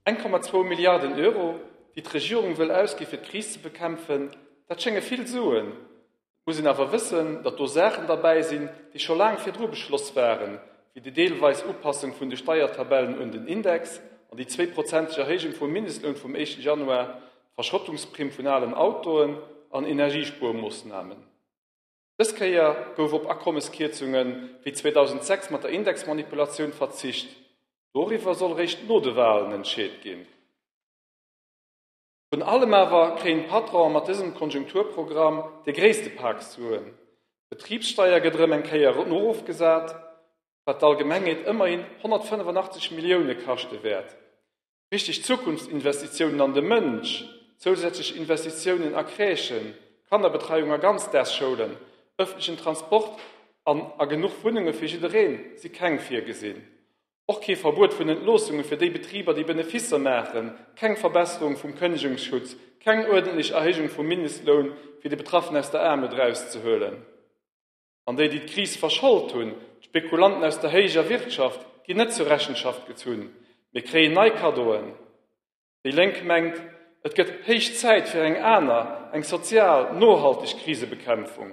Eng Komma zwou Milliarden Euro, déi d'Regierung wëll ausgi fir d'Kris ze bekämpfen, dat schénge vill Suen. Et muss een awer wëssen, datt do Saachen derbäi sinn, déi scho laang virdru beschloss waren, wéi déi deelweis Upassung vun de Steiertabellen un den Index an déi zweeprozenteg Erhéijung vum Mindestloun vum éischten Januar, d'Verschrottungsprimm vun alen Autoen an Energiespuermoossnamen. Dës Kéier gouf op Akommeskierzunge wéi 2006 mat der Indexmanipulatioun verzicht. Doriwwer soll réischt no de Wahlen entscheet ginn. Vrun allem awer kréien d'Patronen mat dësem Konjunkturprogramm dee gréisste Pak Suen. D'Betribssteier gëtt erëm eng Kéier erofgesat, wat d'Allgemengheet ëmmerhin 185 Millioune kaschte wäert. Wichteg Zukunftsinvestitiounen an de Mënsch, zousätzlech Investitiounen a Crèchen, Kannerbetreiung a Ganzdaagsschoulen, ëffentlechen Transport an a genuch Wunnunge fir jidderee si keng virgesinn. Och kee Verbuet vun Entloossunge fir déi Betriber, déi Beneficer maachen, keng Verbesserung vum Kënnegungsschutz, keng uerdentlech Erhéijung vum Mindestloun, fir déi Betraffen aus der Aarmut erauszehuelen. An déi, déi d'Kris verschold hunn, d'Spekulanten aus der héijer Wirtschaft, ginn net zur Rechenschaft gezunn, mee kréien nei Kaddoen. Déi Lénk mengt, et gëtt héich Zäit fir eng aner, eng sozial, nohalteg Krisebekämpfung.